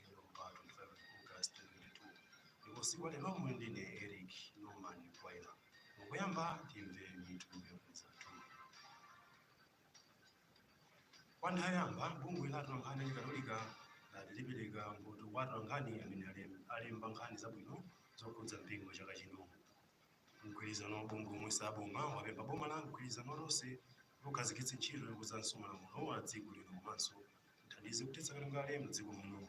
Ndilo mpano pa 5 August 2022 ndipo tsiku lalero muli ndine Eric Norman Kwaila. Poyamba timve mitu yokhudza mtundu. Kwa nthawi yoyamba bungwe la atolankhani achikatolika lati lipereka mphoto kwa atolankhani amene alem- alemba nkhani zabwino zokhudza mpingo chaka chino. Mgwirizano wa mabungwe omwe si aboma wapempha boma la mgwirizano wa Tonse likhazikitse ntchito yokonzanso malamulo a dziko lino komanso Kuthandiza kuthetsa katangale mdziko muno.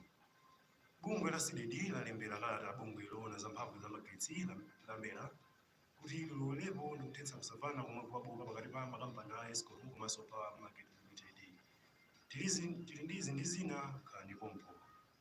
Bungwe la Cdedi lalembera kalata bungwe loona za mphamvu za magetsi la, la mera kuti lilowerepo ndi kuthetsa kusavana komwe kwabuka pakati pa makampani a escom komanso power market limited. Tili ndi izi ndi zina khalani pompo.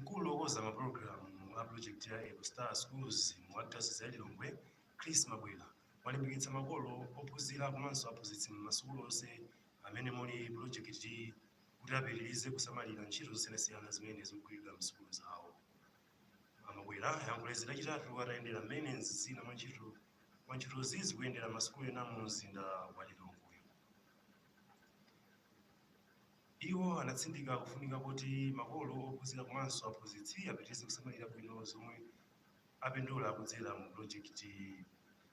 mkulu wokonza mapulogalamu a projekiti ya eco star schools mu adayosizi ya lilongwe chris mabwera walimbikitsa makolo ophunzira komanso aphunzitsi m'masukulu onse amene muli projekiti kuti apitirize kusamalira ntchito zosiyanasiyana zimene zikugwiridwa m'sukulu zawo amabwera ayankhula izi lachitatu atayendera mmene zina mwa ntchito mwa ntchitozi zikuyendera m'masukulu ena mu mzinda wa lilongwe Iwo anatsindika kufunika kuti makolo, ophunzira komanso aphunzitsi apitirize kusamalira bwino zomwe apindula kudzera mu pulojekitiyi.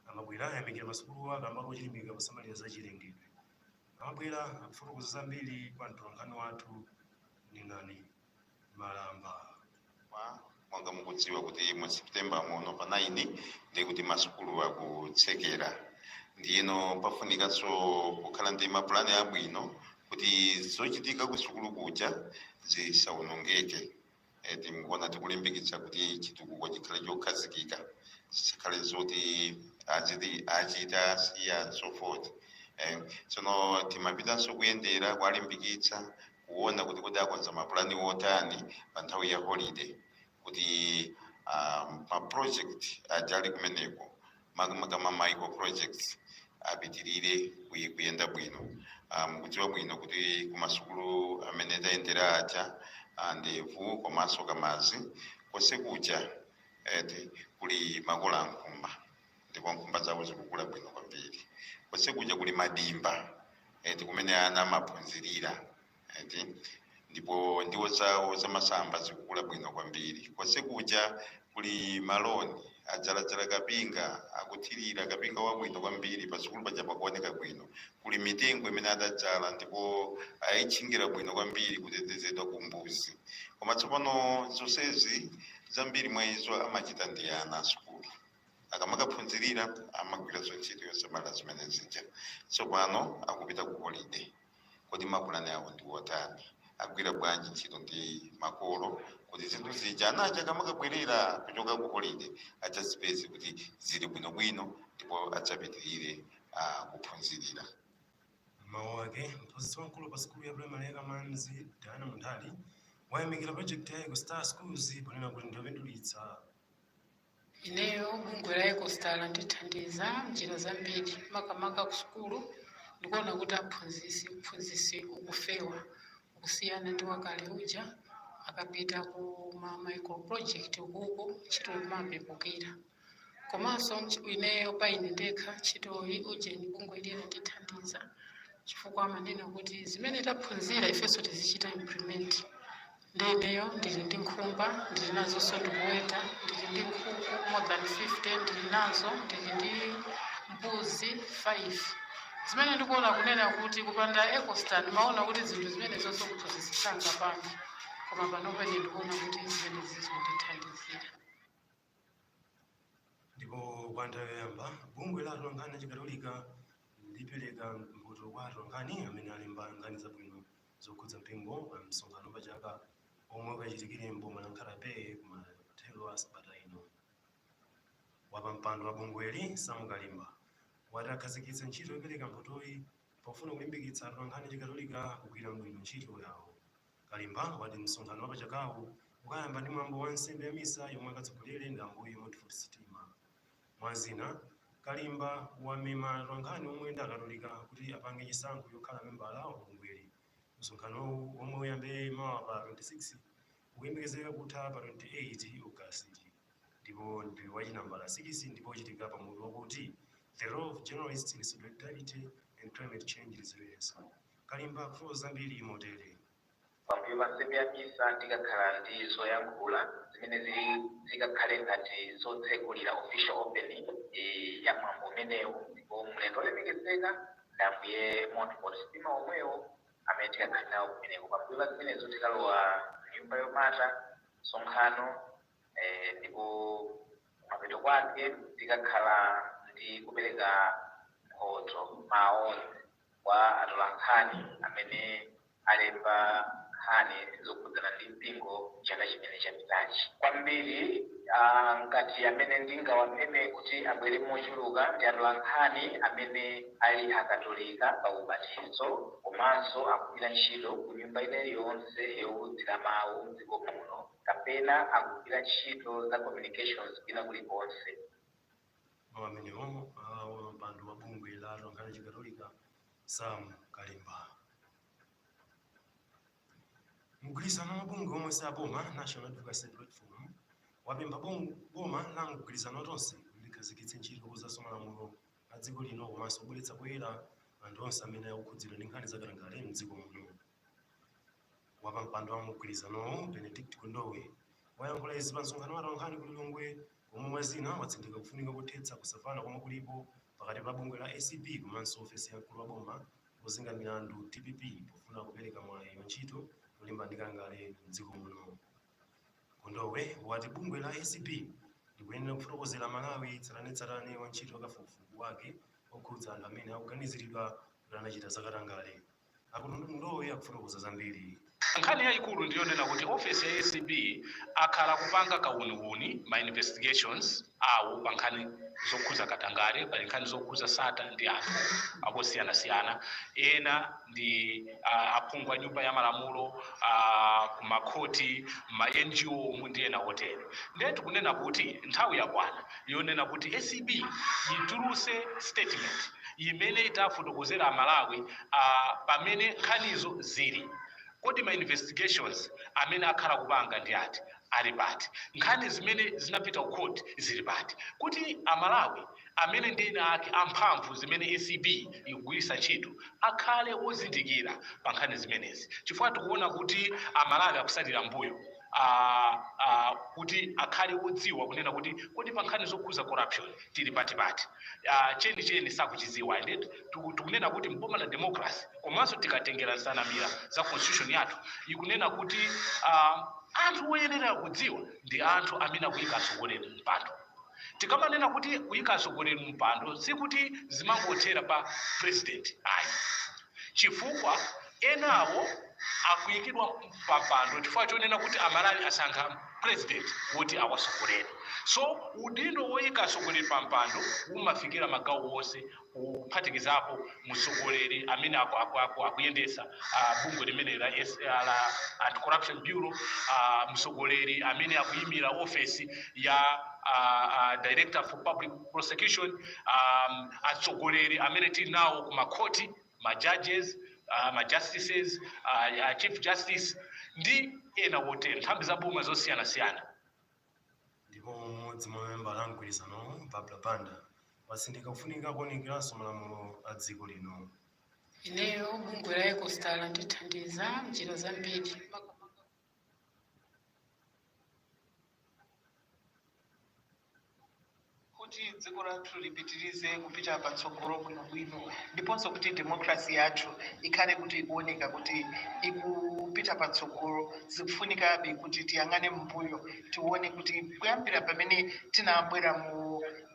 A Mabwera ayamikira masukuluwa kamba kochilimika posamalira za chilengedwe. A Mabwera akufotokoza zambiri kwa mtolankhani wathu Nenani. malamba monga mukudziwa kuti mu september muno pa 9 ndi kuti masukulu akutsekera ndiyeno pafunikanso kukhala ndi mapulani abwino kuti zochitika ku sukulu kuja zisawonongeke Eh, tikuona tikulimbikitsa kuti chitukuko chikhale chokhazikika zisakhale zoti achita siya and so forth Eh, tsono timapitanso kuyendera kuwalimbikitsa kuona kuti kodi akonza mapulani otani pa nthawi ya holiday kuti um, ma project aja ali kumeneko makamaka ma micro projects apitirire kuy- kuyenda bwino mukudziwa bwino kuti kumasukulu amene tayendera aja ah, ndevu komanso kamazi konse kuja eti kuli makola ankhumba ndipo nkhumba zawo zikukula bwino kwambiri konse kuja kuli madimba eti kumene ana amaphunzirira eti ndipo ndiwo zawo zamasamba zikukula bwino kwambiri konse kuja kuli maloni adzaladzala kapinga akuthirira kapinga wabwino kwambiri pasukulu paja pakuoneka bwino kuli mitengo imene adadzala ndipo ayitchingira bwino kwambiri kutetezedwa ku mbuzi koma tsopano zonsezi zambiri mwa izo amachita ndi ana asukulu akamakaphunzirira amagwira ntchito yosamala zimene zija tsopano akupita ku holiday kodi mapulani awo ndi wotani agwira bwanji ntchito ndi makolo kuti zinthu zija anaja akamakabwerera kuchoka ku holiday adzazipeze kuti zili bwinobwino ndipo adzapitirire ah, kuphunzirira mawu ake mphunzitsi wamkulu pa sukulu ya primary ya kamanzi diana munthali wayamikira project ya eco star schools ponena kuti ndiyopindulitsa Ineyo bungwe la Ecostar landithandiza m'njira zambiri, makamaka kusukulu ndikuona kuti aphunzi uphunzitsi ukufewa kusiyana ndi wakale uja, akapita ku ma micro project ukuko ntchito imapepukira. Komanso ineyo pa ine ndekha ntchitoyi ujeni bungwe ili landithandiza chifukwa amanena kuti zimene taphunzira ifenso tizichita implement. Ndi ineyo ndili ndi nkhumba, ndili nazonso ndikuweta, ndili ndi nkhuku more than 50 ndili nazo, ndili ndi mbuzi 5. Zimene ndikuona kunena kuti kupanda Ecostar ndimaona kuti zinthu zimenezonso kuti zisanga pano koma panopa ine ndikuona kuti zimenezi zondithandizira. ndipo kwa nthawi yoyamba bungwe la atolankhani achikatolika lipereka mphoto kwa atolankhani amene alemba nkhani zabwino zokhudza mpingo pa msonkhano wa pa chaka omwe ukachitikire mboma la nkhata bay kumathero a sabata ino wapampando wa bungweli sam kalimba wati akhazikitsa ntchito yopereka mphotoyi pofuna kulimbikitsa atolankhani achikatolika kugwira bwino ntchito yawo Kalimba wati msonkhano wapachakawu ukayamba ndi mwambo wa nsembe ya misa yomwe akatsogolere ndi Ambuye Montfort Sitima. Mwa zina, Kalimba wamema atolankhani omwe ndi akatolika kuti apange chisankho chokhala membala wa bungweli. Msonkhanowu womwe uyambe mawa pa 26 ukuyembekezeka kutha pa 28 Ogasiti ndipo ndi wa chinambala 6 ndipo uchitika pa mutu wakuti The Role of Journalists in Solidarity and Climate Change Resilience. Kalimba akulongosola zambiri motere. Pambuyo pa nsembe ya misa tikakhala ndi zoyankhula zimene zikakhale ngati zotsegulira, official opening, ya mwambo umenewu ndipo mlendo olemekezeka ndi Ambuye Montfort Sitima omwewo amene tikakhale nawo kumeneko. Pambuyo pa zimenezo tikalowa mnyumba yomata msonkhano ndipo kumapeto kwake tikakhala ndi kupereka mphoto ma awards. kwa atolankhani amene alemba nkhani zokhudzana ndi mpingo chaka chimene chapitachi. Kwambiri ah, ngati amene ndingawameme kuti abwere mochuluka ndi atolankhani amene ali akatolika pa ubatizo komanso akugwira ntchito ku nyumba ina iliyonse yowulutsira mawu mdziko muno kapena akugwira ntchito za communications kwina kulikonse. Mawu amenewo a wapampando wa bungwe la atolankhani a Chikatolika Sam Kalimba. Mgwirizano wa mabungwe omwe si aboma National Advocacy Platform wapempha boma la mgwirizano wa tonse kuti likhazikitse ntchito yokonzanso malamulo a dziko lino komanso kubweretsa poyera anthu onse amene akukhudzidwa ndi nkhani za katangale mdziko muno. Wapampando wa mgwirizanowu, Benedict Kondowe, wayankhula izi pa msonkhano wa atolankhani ku Lilongwe womwe mwa zina watsindika kufunika kothetsa kusamvana komwe kulipo pakati pa bungwe la acb komanso ofesi ya mkulu wa boma ozenga milandu dpp pofuna kupereka mwayi wa ntchito yolimbana ndi katangale m'dziko muno. Kondowe wati bungwe la acb likuyenera kufotokozera Amalawi tsatanetsatane wa ntchito ya kafukufuku wake okhudza anthu amene akuganiziridwa kuti anachita zakatangale. A Kondowe akufotokoza zambiri. Nkhani yaikulu ndi yonena kuti ofesi ya acb akhala akupanga kauniuni, ma investigations, awo pa nkhani zokhuza katangale. Pali nkhani zokhuza Sattar ndi anthu akosiyanasiyana. Ena ndi aphungu a nyumba ya malamulo, a ku makhoti, ma NGO mu ndi ena otere. Ndiye tikunena kuti nthawi yakwana. yonena kuti acb yituluse statement imene itafotokozere a Malawi pamene nkhanizo zili. Kodi ma investigations amene akhala kupanga ndi ati? Ali pati? Nkhani zimene zinapita ku court zili pati? Kuti a Malawi amene ndi eni ake a mphamvu zimene acb yikugwiritsa ntchito akhale wozindikira pa nkhani zimenezi chifukwa tikuwona kuti a Malawi akusalira mbuyo. a, a, kuti akhale wodziwa kunena kuti kodi pa nkhani zokhuza corruption tili pati Ah, cheni cheni sakuchidziwa ende tiku- tikunena kuti mboma la democracy komanso tikatengera nsanamira za constitution yathu ikunena kuti ah, anthu oyenera kudziwa ndi anthu amene akuyika atsogoleri mpando tikamanena kuti kuyika atsogoleri mpando sikuti zimangothera pa president ayi chifukwa enawo akuyikidwa pampando chifukwa chonena kuti amalawi asankha president woti awasogolere so udindo woyika atsogoleri pampando umafikira magawo onse kuphatikizapo mtsogoleri amene akuyendetsa bungwe limeneli la anti corruption bureau mtsogoleri amene akuyimira ofesi ya director for public prosecution um, atsogoleri amene tili nawo ku makhoti ma judges uh, ma justices uh, uh, chief justice ndi ena wotero nthambi za boma zosiyanasiyana ndipo mmodzi mwa mamembala a mgwirizanowo habiba banda watsindika kufunika kuunikiranso malamulo a dziko lino ndiye bungwe la ekostala lithandiza mnjira zambiri kuti dziko lathu lipitirize kupita patsogolo bwinobwino ndiponso kuti demokrasi yathu ikhale kuti ikuoneka kuti ikupita patsogolo zikufunikabe kuti tiyang'ane m'mbuyo tione kuti kuyambira pamene tinabwera mu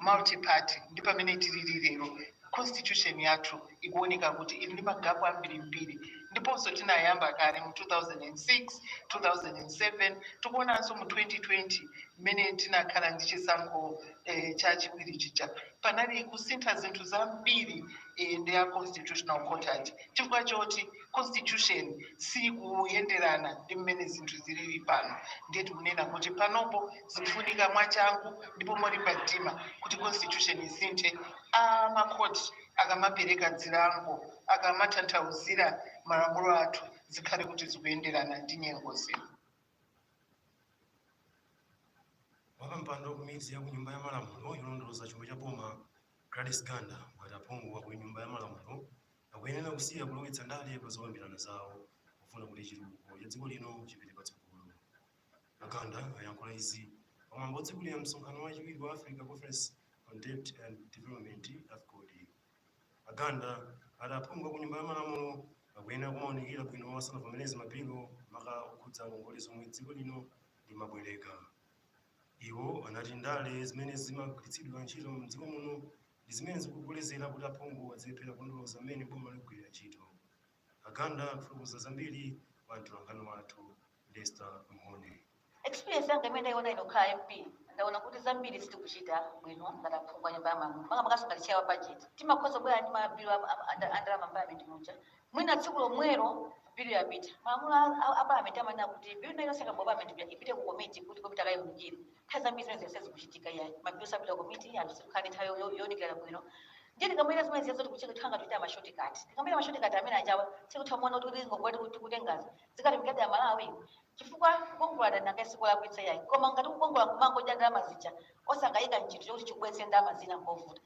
multiparty ndi pamene tilili lero Constitution yathu ikuwoneka kuti ili ndi magapu ambirimbiri ndiponso tinayamba kale mu 2006, 2007, tikuwonanso mu 2020 mmene tinakhala ndi chisankho cha chiwiri chija panali kusintha zinthu zambiri ndi Constitutional Court ija chifukwa choti. constitution sikuyenderana ndi mmene zinthu zilili pano ndiye tikunena kuti panopo zikufunika mwachangu ndipo molimba mtima kuti constitution isinthe a makhoti akamapereka zilango akamatanthauzira malamulo athu zikhale kuti zikuyenderana ndi nyengo zino wapampando wa komiti ya kunyumba ya malamulo yolondoloza chuma cha boma gladys ganda wati aphungu a kunyumba ya malamulo Akuyenera kusiya kulowetsa ndale pa zokambirana zawo pofuna kuti chitukuko cha dziko lino chipite patsogolo. A Ganda ayankhula izi pa mwambo otsegulira msonkhano wachiwiri wa Africa Conference on Debt and Development, Afcodd. A Ganda ati aphungu aku nyumba ya malamulo akuyenera kumaunikira bwino asanavomereze mabilu maka okhudza ngongole zomwe dziko lino limabwereka. Iwo anati ndale zimene zimagwiritsidwa ntchito m'dziko muno Ndi zimene zikukolezera kuti aphungu azilephera kulondoloza mmene boma likugwirira ntchito. A Ganda akufotokoza zambiri kwa mtolankhani wathu Lester Mhone. Experience yanga imene ndaiona ine kukhala MP ndaona kuti zambiri sitikuchita bwino ngati aphungu a nyumba ya malamulo makamakanso ngati chair wa budget timakhoza kubwera ndi mabilu a- a- a- a ndalama parliament muja mwina tsiku lomwelo bilu yapita malamulo a- a- a parliament amanena kuti bilu ina iliyonse ikabwera parliament muja ipite ku komiti kuti komiti ikaiwunikire nthawi zambiri zimenezo sizikuchitika ayi mabilu sakupita ku komiti anthu sitikukhala ndi nthawi yo- yo- younikira bwino ndiye tikamapanga zimenezijazo tikuchita ngati tikupanga mashotikati tikamapanga mashotikati amene ajawa sitikutha kuona kuti kuti ngongole tiku- tikutengazo zikafikadi kwa Amalawi chifukwa kukongola ndalama sikulakwitsa ayi koma ngati kukongola kumangodya ndalama zija osakaika mchinthu chokuti chibweretse ndalama zina mpovuta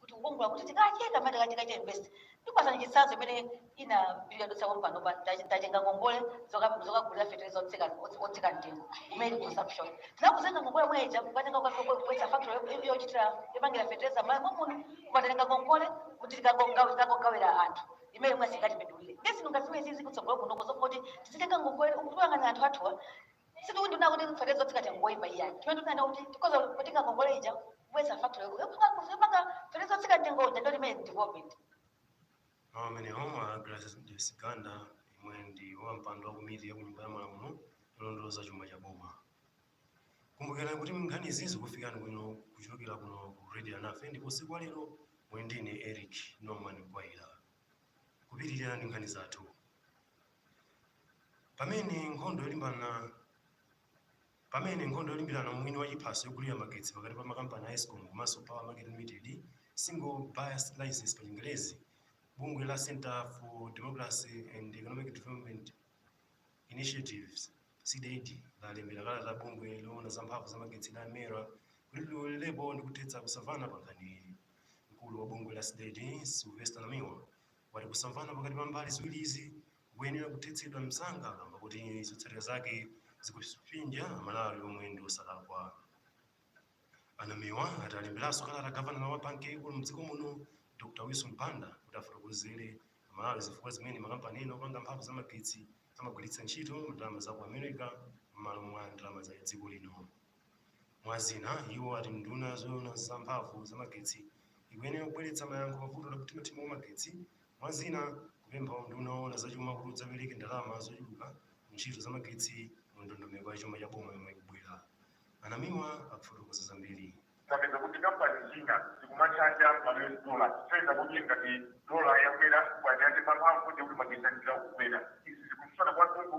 kuti kukongola kuti tikacheka mati tikachita invest ndikupasani chitsanzo imene ina bill yadutsa kompano pa tachi- tatenga ngongole zoka- zokagulira fetereza otsika otsi- otsika mtengo imene consumption tinakatenga ngongole imene ija kukatenga kubweretsa factory yo- yo- yochitira yopangira fetereza m'Malawi muno kukatenga ngongole kuti tikangogawira anthu imene mwe singatipindulire ndesi ndingaziwe izizi kutsogolo kuno kuzakoti tizitenga ngongole ukuyang'ana anthu athuwa sitikunena kuti fetereza otsika mtengo ngoipa iyayi chimene tikunena kuti tikhoza kutenga ngongole ija kubweretsa factory yopanga yopanga fetereza otsika mtengo uja ndiyo imene development Mawu amenewo a Gladys Ganda yemwe ndi wapampando wa komiti ya kunyumba ya malamulo yolondoloza chuma cha boma. Kumbukirani kuti nkhani izi zikufikani bwino kuchokera kuno ku Radio Alinafe ndipo usiku wa lero muli ndine Eric Norman Kwaila. Kupitirira ndi nkhani zathu. pamene nkhondo yolimbana pamene nkhondo yolimbirana mwini wa chiphaso chogulira magetsi pakati pa makampani a escom komanso power market limited single buyer's license pa chingerezi bungwe la center for democracy and economic development initiatives cdedi lalembera kalata bungwe loona za mphamvu za magetsi la mera kuti lilowererepo ndi kuthetsa kusamvana pa nkhaniyi mkulu wa bungwe la cdedi sylvester namiwa Wati kusamvana pakati pa mbali ziwirizi kukuyenera kuthetsedwa msanga kamba kuti zotsatira zake zikupsinja Amalawi omwe ndi osalakwa. A Namiwa ati alemberanso kalata gavana wa banki yaikulu mdziko muno Dr Wilson Banda kuti afotokozere Amalawi zifukwa zimene makampani ena opanga mphamvu za magetsi amagwiritsa ntchito ndalama za ku America mmalo mwa ndalama za dziko lino. Mwa zina, iwo ati nduna yoona za mphamvu za magetsi ikuyenera kubweretsa mayankho pa vuto la kuthimathima kwa magetsi, mwa zina kupempha unduna oona za chuma kuti udzapereke ndalama zochuluka ku ntchito za magetsi mu ndondomeko ya chuma cha boma yomwe ikubwera. A Namiwa akufotokoza zambiri. tapeza kuti kampani zina zikumatchacha ma US dollar kupeza kuti ngati dola yakwera chifukwa chake pamphamvu ndi kuti magetsi ayenera kukwera izi zikutsutsana kwathunthu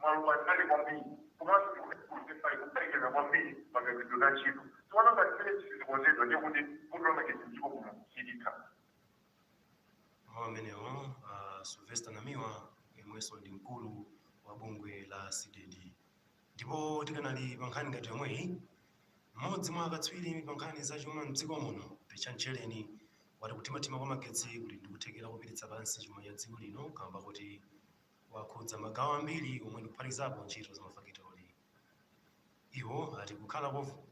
maluwa ndinali kwambiri komanso ndikuzikusipali kuperekeza kwambiri pamagwiridwe a ntchito tiona ngati zimene zi sizikonzedwa ndiye kuti vuto la magetsi mdziko muno silitha mawu amenewo a sylvester namiwa yemwenso ndi mkulu wa bungwe la cdedi ndipo tikanali pa nkhani ngati yomweyi mmodzi mwa akatswiri pa nkhani za chuma mdziko muno richard tchereni wati kuthimathima kwa magetsi kuli ndikuthekera kupititsa pansi chuma cha dziko lino kamba kuti wakhudza magawo ambiri omwe ndikuphatikizapo ntchito za mafakitori. Iwo ati kukhala kovu-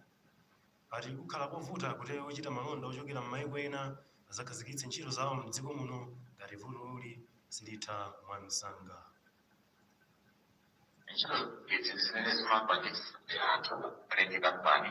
ati kukhala kovuta kuti ochita malonda ochokera m'mayiko ena azakhazikitse ntchito zawo m'dziko muno ngati vutoli silitha mwamsanga. ntchito izi zimene zimapangitsa kuti anthu alenge kampani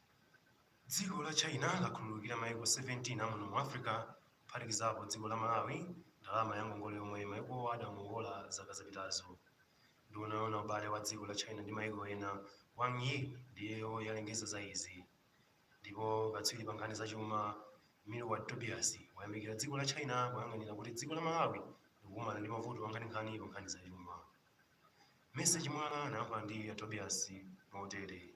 Dziko la China lakhululukira maiko 17 a muno mu Africa kuphatikizapo dziko la Malawi ndalama ya ngongole yomwe maikowa adangongola zaka zapitazo. Nduna yoona ubale wa dziko la China ndi maiko ena, Wang Yi, ndiyo yalengeza za izi. Ndipo katswiri pa nkhani zachuma, Milward Tobias, wayamikira dziko la China poyang'anira kuti dziko la Malawi likukumana ndi mavuto ankhaninkhani pa nkhani zachuma. Mercy Chimwala anayankhula ndi a Tobias motere.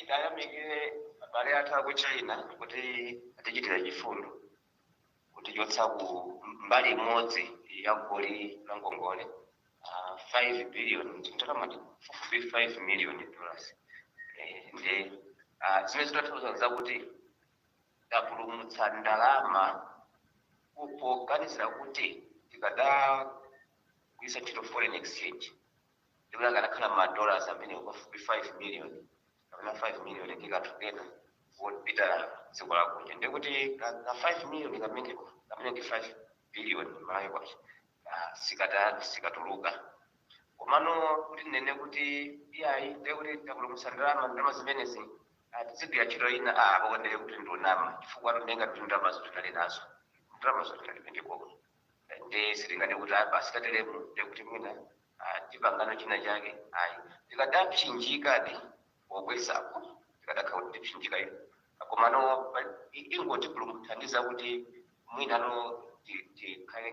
tiyamikire abale athu aku china kuti atichitira chifundo kutichotsa ku mbali imodzi ya goli la ngongole ah, 5 billion ndalama pafupi 5 million dollars Eh, ndi ah, zimene zikutanthauza kuti tapulumutsa ndalama poganizira kuti tikadagwiritsa ntchito foreign exchange ndikuti akanakhala ma dollars amene pafupi 5 million kapena 5 million tikadatenga kupita dziko lakunja ndikuti ka ka 5 million kameneko kamene ndi 5 billion malawi kwacha ah, sika- sikatuluka komano kuti tinene kuti iyayi ndekuti tapulumutsa ndalama ndalama zimenezi ah, tizigwira ntchito ina ah, apo ndiye kuti ndikunama chifukwa tinena kuti ndalamazo tinali nazo ndalamazo tinali pendekoko nde sitingati kuti ah, basi tateremu ndekuti mwina ah, tipangano china chake ayi tikadapsinjikadi pobwezapo tikadakhala kuti tipsinjika iyo komano pa- i- ingoti kungotithandiza kuti mwina ti- tikhale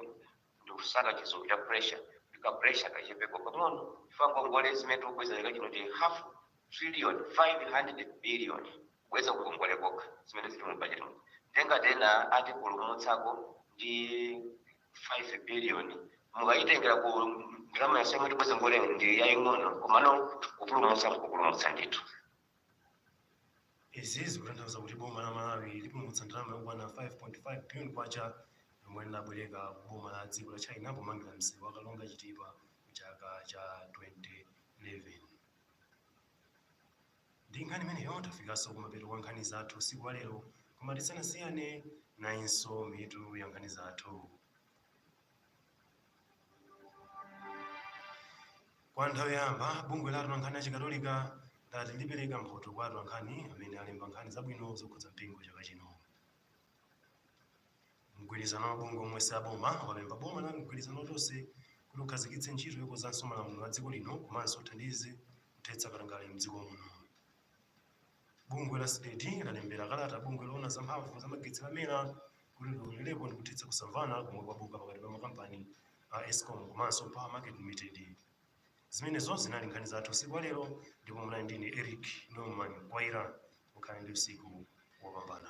ndikusaka chizungu cha pressure kuti ka pressure kachepeko pang'ono chifukwa ngongole zimene tikubweza chaka chino ndi half trillion 500 billion kubweza ngongole kokha zimene zili mu bajeti muja ndiye ngati ena atipulumutsako ndi 5 billion mukayitengera ku ndalama yonse yomwe tibweze ngongole ndi yaying'ono komano kupulumutsa mkupulumutsa ndithu izi zikutanthauza kuti boma la malawi lipulumutsa ndalama yokwana 5.5 billion kwacha yomwe linabwereka ku boma la dziko la china pomangira msewu wa karonga chitipa mchaka cha 2011 Ndi nkhani imeneyo tafikanso kumapeto kwa nkhani zathu usiku wa lero koma tisanasiyane nayinso mitu ya nkhani zathu. Kwa nthawi yoyamba bungwe la atolankhani achikatolika lati lipereka mphoto kwa atolankhani amene alemba nkhani zabwino zokhudza mpingo chaka chino. Mgwirizano wa mabungwe omwe si aboma wapempha boma la mgwirizano wa Tonse kuti ukhazikitse ntchito yokonzanso malamulo a dziko lino komanso uthandize kuthetsa katangale mdziko muno. Bungwe la Cdedi lalembera kalata bungwe loona za mphamvu za magetsi la MERA kuti lilowererepo ndi kuthetsa kusamvana komwe kwabuka pakati pa makampani a Escom komanso Power Market Limited. zimenezo zinali nkhani zathu usiku wa lero ndipo munali ndine eric norman kwaira mukhale ndi usiku wopambana